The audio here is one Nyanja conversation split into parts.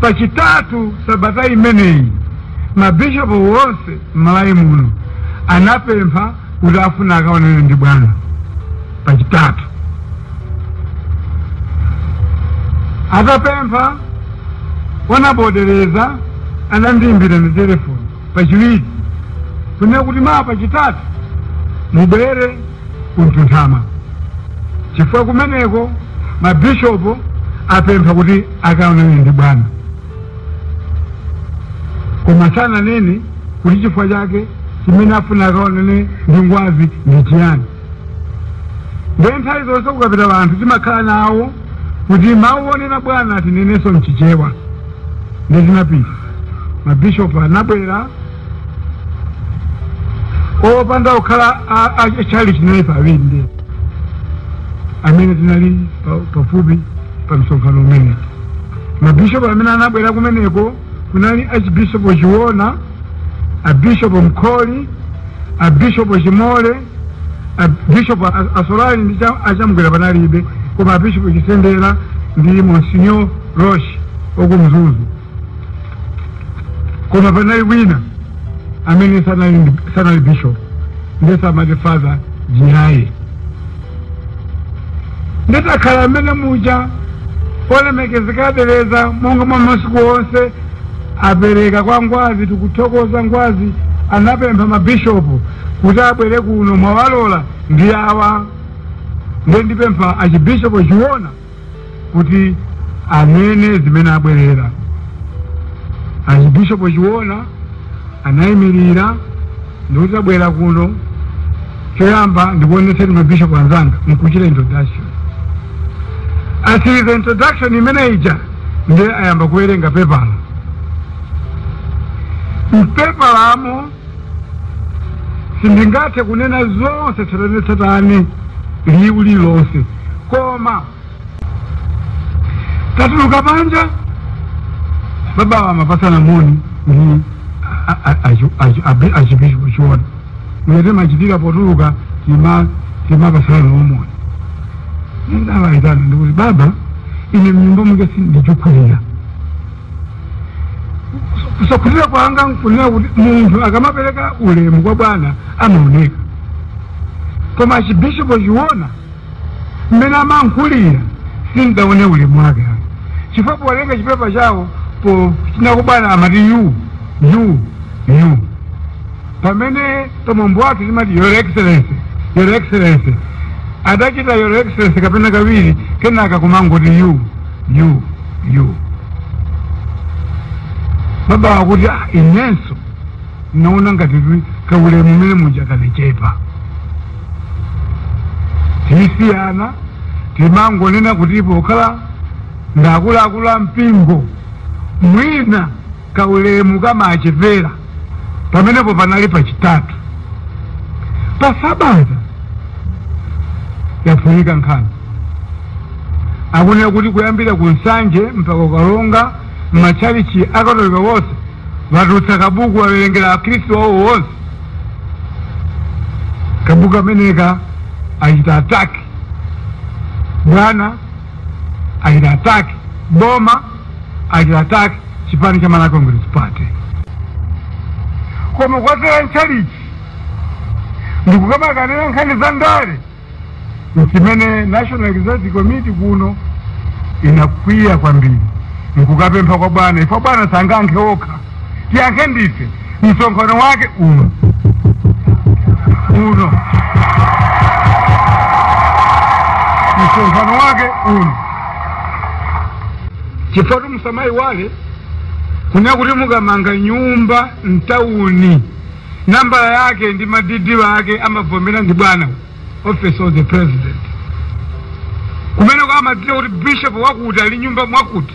pachitatu sabata imeneyi mabishopu wonse m'malawi muno anapempha kuti afuna akaonane ndi bwana pachitatu atapempha Honourable Deleza anandiimbira ndi telefoni pachiwiri kunena kuti mawa pachitatu mubwere ku Mtunthama chifukwa kumeneko mabishopu apempha kuti akaonane ndi bwana koma sananene kuti chifukwa chake chimene afuna akaonane ndi ngwazi ndi chiyani ndiye nthawi zonse kukapita anthu timakhala nawo kuti mawu onena bwana tinenenso mchichewa ndiye tinapita mabishopu anabwera opanda kukhala a- a- a chalichi tinali pawiri ndi amene tinali pa- pafupi pa msonkhano umenewu mabishopu amene anabwera kumeneko kunali Archbishop Chiona, a Bishop Mkhori, a Bishop Chimole, a Bishop A- Assolari ndi cha- a Chamgwera panalibe koma a Bishop Chisendera ndi Monsignor Roche waku Mzuzu koma panali wina amene sanali ndi- sanali bishop ndiye samati father Jiraye nditakhala amene muja olemekezeka a Deleza monga mwa masiku onse apereka kwa ngwazi tikuthokoza ngwazi anapempha mabishopu kuti abwere kuno mwawalola ndi awa ndiye ndipempha Archbishop Chiona kuti anene zimene abwerera archbishop chiona anayimirira ndikuti tabwera kuno choyamba ndikuonetseni mabishopu anzanga nkuchita introduction atsiriza introduction imene ija ndiye ayamba kuwerenga pepala mpepalamo sindingathe kunena zonse tsatanetsatane liwu lililonse koma tatuluka panja babawa amapasana moni ndi a- a- a- achi- achi- abi- Archbishop Chiona mmene timachitira potuluka tima timapasana nawo moni ndiye ndawaitana ndikuti baba ine mnyumba mwake sindikukhulupirira kusakhulupirira kwanga nkunena kuti munthu akamapereka ulemu kwa bwana amaoneka koma Archbishop Chiona mmene amalankhulira sindidaone ulemu wake ayi. chifukwa powerenga chipepa chawo po chinaku bwana amati you you you pamene pamwambo wake timati your excellency your excellency adachita your excellency kapena kawiri kenaka kumangoti you yu yu baba akuti "Ah, inenso naona ngati kuti kaulemu mmene muja kanachepa tisiyana timangonena kuti pokhala ndakuluakulu a mpingo mwina kaulemu kamachepera pamenepo panali pachitatu pa sabata yaphulika nkhani akunena kuti kuyambira ku Nsanje mpaka ku Karonga m'matchalichi akatolika wonse watulutsa kabuku wawerengera akhristu wawo wonse kabuku kameneka achita attack bwana achita attack boma achita attack chipani cha Malawi Congress Party. Koma kwadzera nchalichi ndikukamakanira nkhani za ndale nchimene National Executive Committee kuno inakwiya kwambiri nkukapempha kwa bwana ife bwana sangayankhe okha tiyankhe ndife msonkhano wake uno uno msonkhano wake uno chifukwa musamaiwale kunena kuti mukamanga nyumba mtawuni nambala yake ndi madidi wake amavomera ndi bwana office of the president kumeneko amadziwa kuti bishop wakuti ali nyumba mwakuti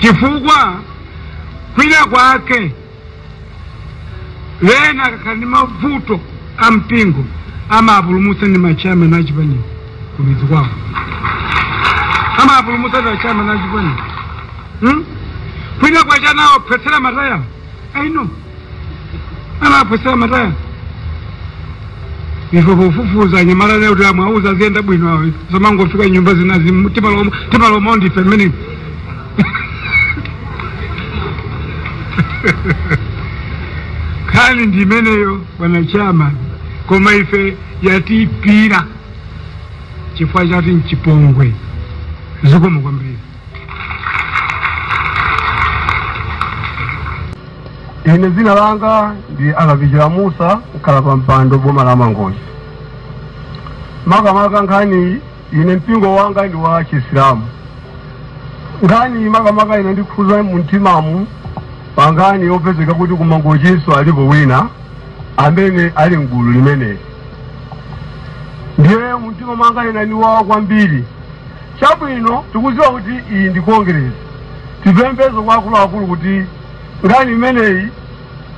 chifukwa kwina kwake wena akakhala ndi mavuto a mpingo amapulumutsa ndi machiyamani achipaniwo kumidzi kwawo amapulumutsa ndi machiyamani achipaniwo hmm? kwina kwache anawaphwetsera mataya aino anaphwetsera mataya ife pofufuza anyamala lero kuti amwauza aziyenda bwino awo zamangofika nyumba zinazi mu- timaloma timaloma ndife mmene nkhani ndi imeneyo bwana chairman koma ife yatiipira chifukwa chati nchipongwe zikomo kwambiri Ine dzina langa ndi Akapichira Musa mkhalapampando boma la Mangochi. Makamaka nkhani ine mpingo wanga ndi wa Chisilamu. Nkhani makamaka inandikhudza mu mtimamu pa nkhani yopezeka kuti ku Mangochinso alipo wina amene ali mgulu limeneli. Ndiye mumtima mwanga inandiwawa kwambiri Chabwino, tikudziwa kuti iyi ndi Kongeresi. Tipemphenso kwa akuluakulu kuti nkhani imeneyi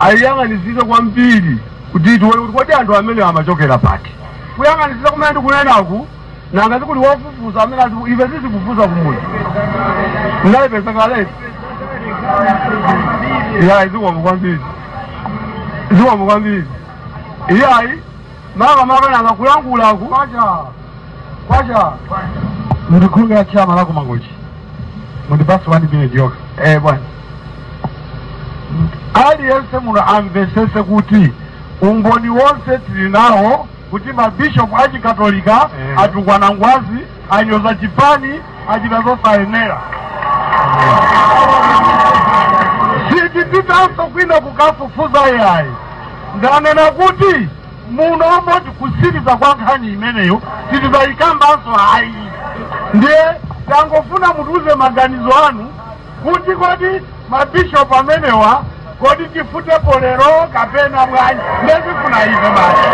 ayiyang'anitsitse kwambiri kuti tione kuti kodi anthu amenewa amachokera pati. Kuyang'anitsitsa kumene ndikunenaku, nanga sikuli wofufuza amene azifu, ife sitifufuza kumudzi. Ndayipeza kaletu. Iyayi, zikomo kwambiri. Zikomo kwambiri. Iyayi. Makamaka nanga kulankhulaku Kwacha! Kwacha! Ndi Kulunga chairman wa ku Mangochi. Mundipatse 1 minute yokha. Eh bwana. Aliyense muno amvetsetse kuti umboni wonse tili nawo kuti mabishopu achikatolika Eh. atukwana ngwazi Anyoza chipani, achita zosayenera. Sitipitanso kwina kukafufuza yayi. Ndanena kuti muno moti kusiriza kwa nkhani imeneyo sitizayikambanso ayi. Ndiye tangofuna mutiuze maganizo anu kuti kodi ma bishop amenewa kodi tifutepo lero kapena bwanji nde zofuna ife basi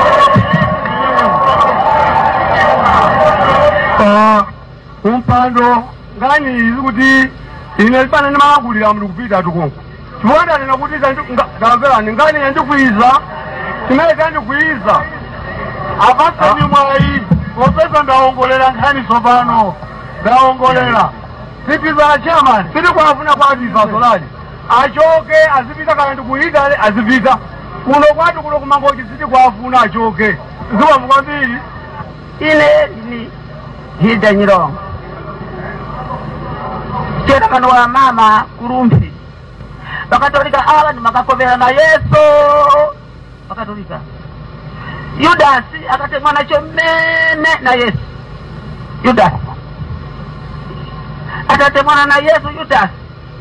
Ah, wampando nkhani iyi kuti ine zipana ndimakulira mndu kupita tukunku chifukwa ndanena kuti ndamverani nkhani yandikwiza chimene chandikwiza apatseni mwayi popeza ndawongolera nkhani tsopano ndawongolera Mister chairman sitikuwafuna kwathu ife Assolari achoke azipita kaya ndi ku Italy azipita kuno kwathu kuno ku Mangochi sitikuwafuna achoke zikomo kwambiri ine ni Hilda Nyirongo chairman wa mama ku Rumphi bakatolika awa ndimakakopera na yesu bakatolika yudasi akatemwa nacho mmene na yesu yudasi atatemwana na yesu yudasi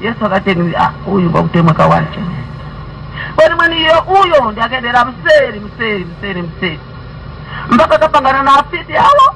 yesu akateni "Ah, uyu bakutemwa kawache kwani mwani iyo uyo ndi akendera mseri mseri mseri mseri mpaka akapangana na afiti awo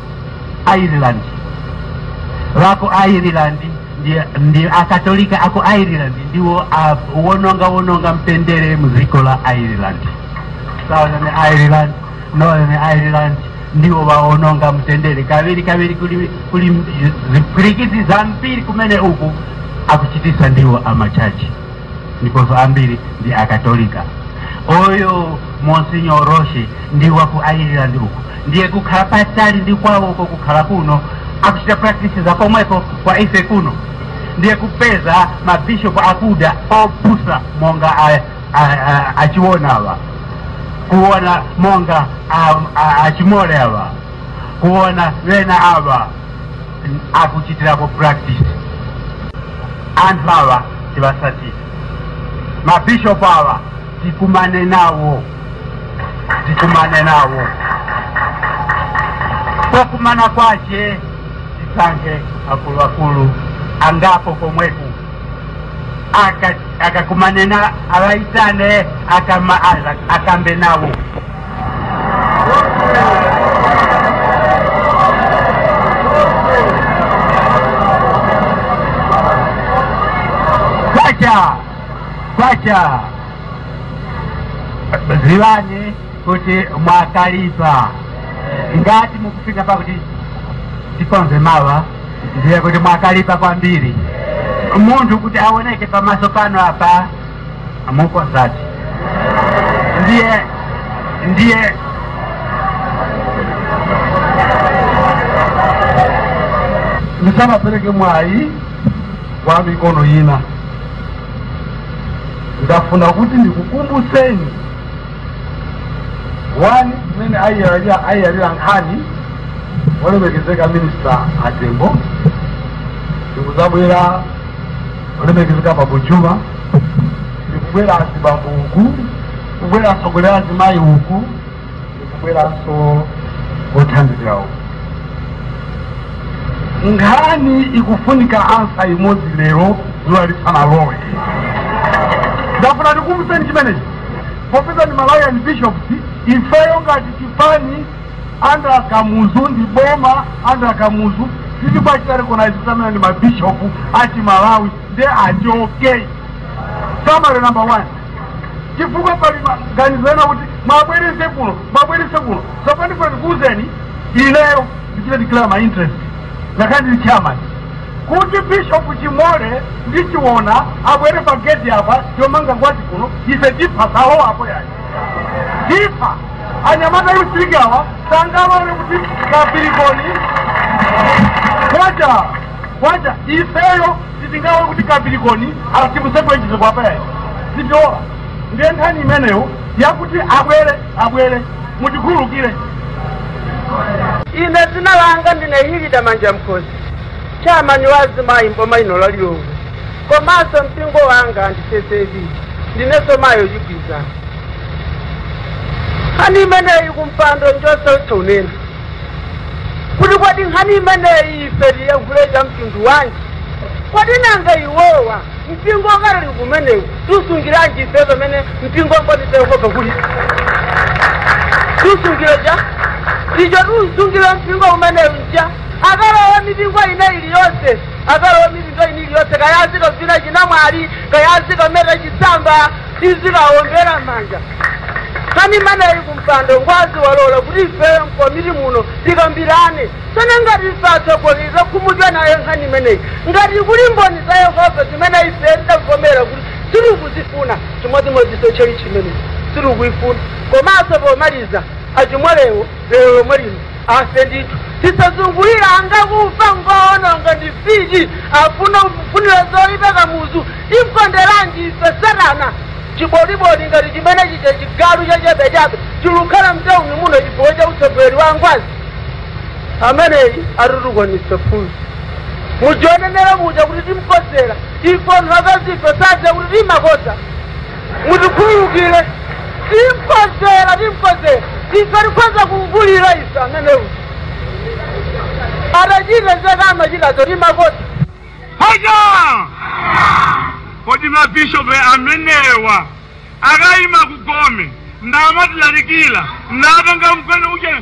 ireland wa ku ireland ndi, ndi akatolika aku ireland ndiwo awononga wononga mtendere mdziko la ireland southern ireland northern ireland ndiwo waononga mtendere kaviri kaviri kuli, kuli zipwirikiti zambiri kumene uku akuchitisa ndiwo amachachi ndiponso ambiri ndi akatolika uyo Monsignor Roche ndi wa ku ireland uku ndiye kukhala patali ndi kwawo uko kukhala kuno akuchita practice za komweko kwa ife kuno ndiye kupeza mabishopu akuda opusa monga a- a- a- a Chiona awa kuona monga a- a- a Chimole awa kuona wena awa akuchitirapo practice anthu awa tiwasatire ma bishop awa tikumane nawo tikumane nawo pokumana kwache tisankhe akuluakulu angapo komweku Aka- akakumane na awaitane akama- ala- akambe nawo Kwacha! Kwacha! Ziwani kuti mwakalipa ngati mukufika pakuti tikonze mawa ndiye kuti mwakalipa kwambiri munthu kuti aoneke pamaso pano apa Amukonzatu. Ndiye, ndiye. Ndisanapereke mwayi kwa mikono ina. Ndafuna kuti ndikukumbutseni wani mmene ayiyalira ayiyalira nkhani olemekezeka minista atembo ndikuzabwera olemekezeka bambo Juma ndikubwera azibambo uku kubwera atsogoleri azimayi uku ndikubweranso othandizira uku nkhani ikufunika ansa imodzi lero zuwa lisanalowe ndafuna ndikumbuseni chimenechi popeza ndi malawian bishops ifeyo ngati chipani under Kamuzu ndi boma under Kamuzu sitikuwachita recognize kuti amenewa ndi ma bishop a chi Malawi nde achoke. Summary number one, chifukwa pali maganizo ena kuti mwabwerese kuno, mwabwerese kuno. Tsopano ndifuna ndikuwuzeni ineyo ndichita declare my interest ngakhale ndili chairman kuti bishop chimole ndi chiona abwere pa gate apa yomanga Ngwazi kuno ife tipha salowa apo yayi tipha anyamata a youth league awa sangalole kuti kapirikoni kwacha kwacha ifeyo sitingalole kuti kapirikoni asibusebwenjise kwapa yayi sitilola ndiye nkhani imeneyo yakuti abwere abwere mutikhululukire ine dzina langa ndine hilda manjamkhosi chairman wa azimayi mboma ino la lilongwe komaso mpingo wanga ndi ccap ndineso mayi wachigwirizano nkhani imeneyi kumpando njosautsa kunena kuti kodi nkhani imeneyi ife tiyankhule cha mtundu wanji kodi nanga iwowa mpingo wakatolika umenewu tiusungiranji ife pamene mpingo mboni za yehova kuli tiusungire cha icho tiusungire mpingo umenewu nja akalowa mipingo ina iliyonse akalowa mipingo ina iliyonse kaya azikavina chinamwali kaya azikameta chisamba azikawombera manja nkhani imeneyi kumpando ngwazi walola kuti ifewe mkomiti muno tikambirane sana ngati ife atsogoleri takhumudwa nayo nkhani imeneyi ngati kuli mboni za yehova zimene ife tidavomera kuti sitikuzifuna chimodzimodziso tchalitchi imene sitikuyifuna komanso pomaliza a chimolewo lero lomwe lino Afe ndithu tisazungulire anga kufa ngoononga ndi fiti afuna kufunira zoipa kamuzu timkonderanji ife satana chiboliboli ngati chimene chija chigalu chachabechabe chilukukhala mtauni muno chifukwa cha utsogoleri wa ngwazi ameneyi atitukwanitsa funso mujonenera muja kuti timkodzera ife anthu akazife sadziwa kuti timakodza mutikhululukire timkodzera timkodzera ife tikhoza kumvulira ife amenewa atachita zake amachitazo timakoti hoja kodi mabishopu amenewa akayima kugome namatilalikira ndatenga mkwene uja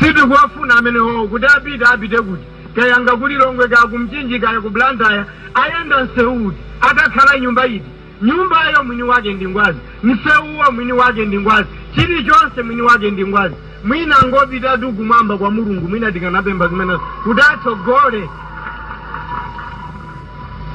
sitikuwafuna amenewo kuti apite apite kuti kayanga ku lilongwe kaya kumchinji kaya ku blantyre ayenda msewu uti akakhala nyumba iti Nyumbayo mwini wake ndi Ngwazi, msewuwo mwini wake ndi Ngwazi, chilichonse mwini wake ndi Ngwazi. Mwina angopitatu kumwamba kwa Mulungu, mwina tikanapempha zimenezo kuti atsogole.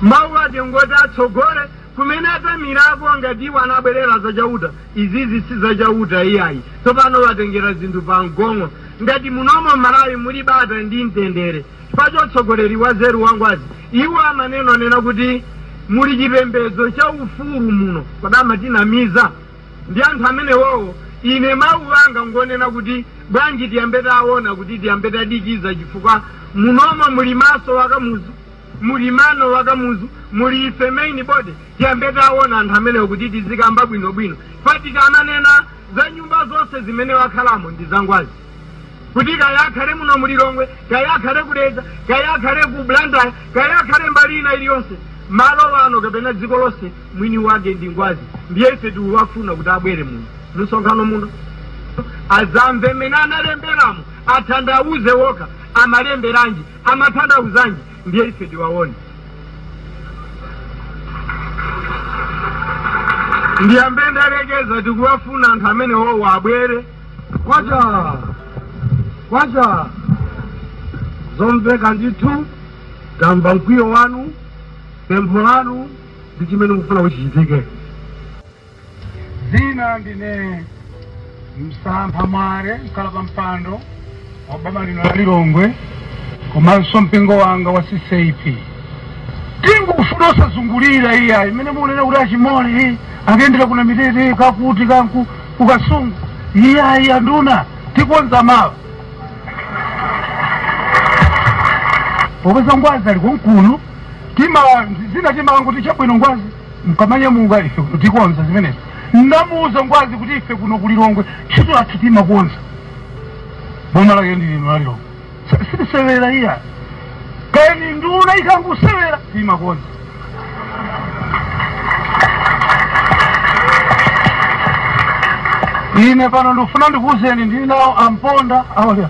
Mawu ake ngoti atsogole kumene atamirako, ngati iwo anabwerera za Chauta, izizi si za Chauta iyayi. Tsopano watengera zinthu pamgong'o. Ngati munomo m'Malawi muli bata ndi mtendere, Chifukwa cha utsogoleri wanzeru wa Ngwazi iwo amanena kunena kuti muli chipembedzo cha ufulu muno kodi amatinamiza ndi anthu amenewowo ine mau anga ngonena kuti bwanji tiyambe taona kuti tiyambe tadikiza chifukwa munomo muli maso wa Kamuzu muli mano wa Kamuzu muli ife main body tiyambe taona anthu amenewo kuti tizikamba bwinobwino chifukwa tikamanena za nyumba zonse zimene wakhalamo ndi za Ngwazi. kuti kaya akhale muno mu Lilongwe, kaya akhale ku Dedza, kaya akhale ku Blantyre, kaya akhale mbali ina iliyonse, malo ano kapena dziko lonse, mwini wake ndi Ngwazi. Ndiye ife tikuwafuna kuti abwere muno msonkhano muno azanene mmene analemberamo, athandauze wokha amalemberanji, amathandauzanji, ndiye ife tiwaone. ndiyambe ndalekeza tikuwafuna anthu amene wowo abwere kwacha kwacha zomveka ndithu tamva mkwiyo wanu pempho lanu ndi chimene mukufuna kuti chichitike dzina ndine msampha mwale mkhala pa mpando wa boma lino la Lilongwe komanso mpingo wanga wa CCAP tingufuna osazungulira iyayi mmene mukunena kuti achimole akuyendera kuna mitete kakuti kanku kukasungu iyayi anduna tikonza mawa popeza ngwazi ali konkuno tima zina timango tichabwino ngwazi nkamanyamuka ife kuno tikonza zimenezi ndamuuza ngwazi kuti ife kuno ku lilongwe ntchito yathu timakonza boma lake ndi lino la lilongwe Si- sitisewera iya kani nduna ikangusewera timakonza ine pano ndikufuna ndikuuzeni ndili nawo amponda awalya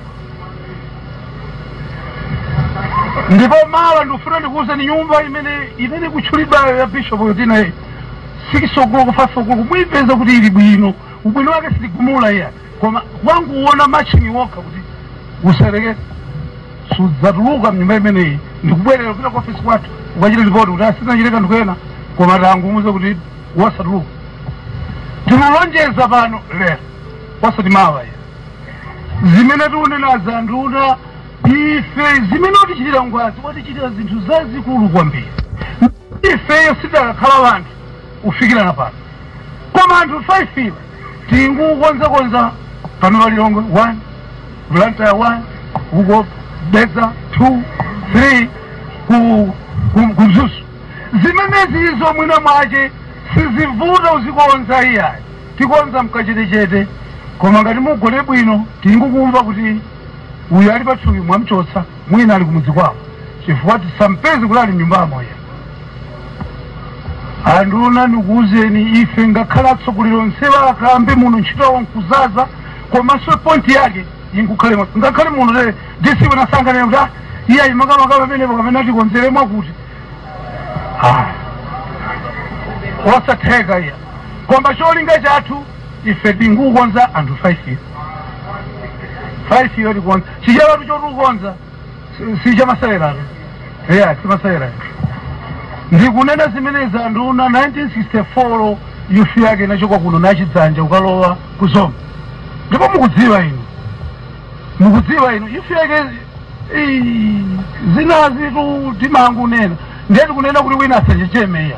ndipo mawa ndikufuna ndikuwuzeni nyumba imene imene ikutchulidwayo ya bishop yotinayi sikisogolo kufasogolo muyipeza kuti ili bwino ubwino wake sitigumula iya koma wangowona machine wokha kuti usereke sudzatuluka mnyumba imeneyi ndikubwerera kupita ku ofisi kwathu ukachita lipoti kuti asinachite kanthu kena koma tangumuze kuti wasatuluka tikulonjeza pano lero wasati mawa iya zimene tikunena za nduna ife zimene watichitira ngwazi watichitira zinthu zazikulu kwambiri ifeyo sitakakhala wanthu kufikirana pano koma anthu 5 iwo tingukonzakonza pano palilongwe 1 blantyre 1 uko Dedza 2 3 ku ku- ku mzuzu zimenezi izo mwina mwace sizivuta uzikonza iyayi Tikonza mkachetechete koma ngati mugone bwino tingukumva kuti uyu ali pathupi mwamchotsa mwina ali kumudzi kwawo chifukwa tisampeze kuti ali mnyumbamo iya anduna ndikuuzeni ife ngakhale atsogoleri onsewa akambe muno ntchito yawo nkuzaza komanso pointi yake inkukhale mwa- ngakhale muno te disiwe nasanganira kuti ah, iye ayi makamaka pamenepo kapena tikonzere mwakuti Ah, osatheka iya Koma cholinga chathu ife tikukonza anthu 5 5 yo tikonza chichewa chotukonza si- si chamasalera yeah simasalera ndikunena zimenezi nduna 1964 imfa yake inachoka kuno nachidzanja ukalowa ku zomba ndipo mukudziwa inu mukudziwa inu imfa yake ii, zinazitu timangunena ndiye tikunena kuti wina asachechemeya